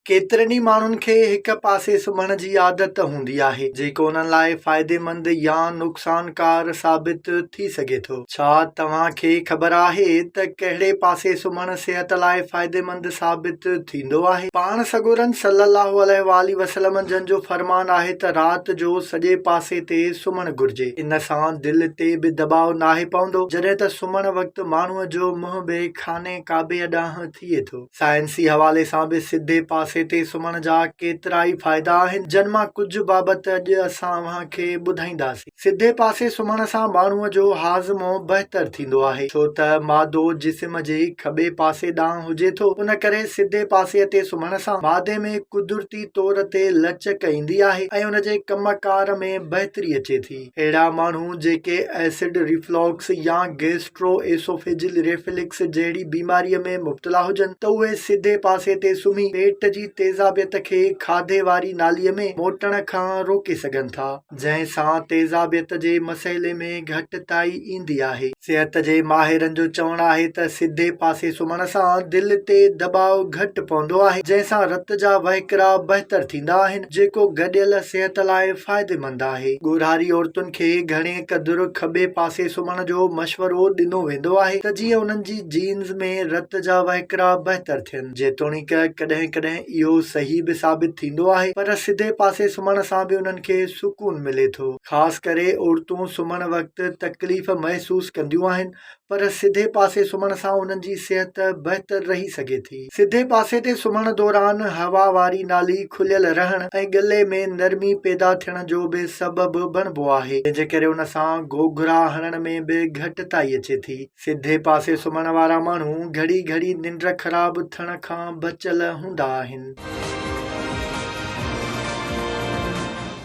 ڪيترن ئي ماڻهن کي هڪ پاسي سمهڻ جي عادت هوندي آهي، جيڪو انهن لاء فائديمند يا نقصانڪار ثابت ٿي سگهي ٿو. ڇا توهان کي خبر آهي ته ڪهڙي پاسي سمهڻ صحت لاء فائديمند ثابت ٿيندو آهي؟ پاڻ سڳورن صلّي اللّٰه عليه واٰله وسلّم جن جو فرمان آهي ته رات جو سڄي پاسي تي سمهڻ گهرجي، ان سان دل تي به دٻاء ناهي پوندو، جڏهن ته سمهڻ وقت ماڻهوء جو منهن به خانه ڪعبي ڏانهن ٿئي ٿو. سائنسي حوالي سان به سڌي پاسي تي سمهڻ جا ڪيترائي فائدا آهن، جن مان ڪجهه بابت اڄ اسان اوهان کي ٻڌائينداسين. سڌي پاسي سمهڻ سان ماڻهوء جو هاضمو بهتر ٿيندو آهي، ڇو ته معدو جسم جي کٻي پاسي ڏانهن هجي ٿو، ان ڪري سڌي پاسي تي سمهڻ سان معدي ۾ قدرتي طور تي لچڪ ايندي آهي ۽ ان جي ڪم ڪار ۾ بهتري اچي ٿي. اهڙا ماڻهو جيڪي ايسڊ ريفلاڪس يا گئس گئسٽروئيسوفيجل ريفلڪس جهڙي بيماريء ۾ مبتلا هجن ته اهي سڌي پاسي تي سمهي پيٽ جي تيزابيت کي کاڌي واري ناليء ۾ موٽڻ کان روڪي سگهن ٿا جنهن سان تيزابيت جي مسئلي ۾ گهٽتائي ايندي آهي. صحت جي ماهرن جو چوڻ آهي ته سڌي پاسي سمهڻ سان دل تي دٻاء گهٽ پوندو آهي جنهن سان رت جا وهڪرا بهتر ٿيندا آهن جيڪو گڏيل صحت لاء فائديمند آهي. ڳورهاري عورتن کي گهڻي هڪ ڌر کٻي پاسي سمهڻ جو مشورو ڏنو ويندو آهي ته جيئن انهن جي جينز ۾ رت جا وهڪرا بهتر ٿين. جيتوڻيڪ ڪڏهن ڪڏهن اهو صحيح به ثابت ٿيندو آهي پر سڌي پاسي سمهڻ سان به انهن کي سڪون ملي ٿو. خاص ڪري عورتون سمهڻ وقت تڪليف محسوس ڪنديون آهن پر سڌي پاسي سمهڻ سان انهن جي صحت بهتر رهي سگهي ٿي. سڌي پاسي تي سمهڻ دوران هوا واري نالي کليل رهڻ ۽ ڳلي ۾ نرمي پيدا ٿيڻ جو به سبب بڻبو آهي، جنهن جي ڪري ان سان گهوگهرا هڻڻ ۾ به گهٽتائي اچي ٿي. سڌي پاسي سمهڻ وارا ماڻهو گهڙي گهڙي ننڊ خراب ٿيڻ کان بچيل هوندا آهن.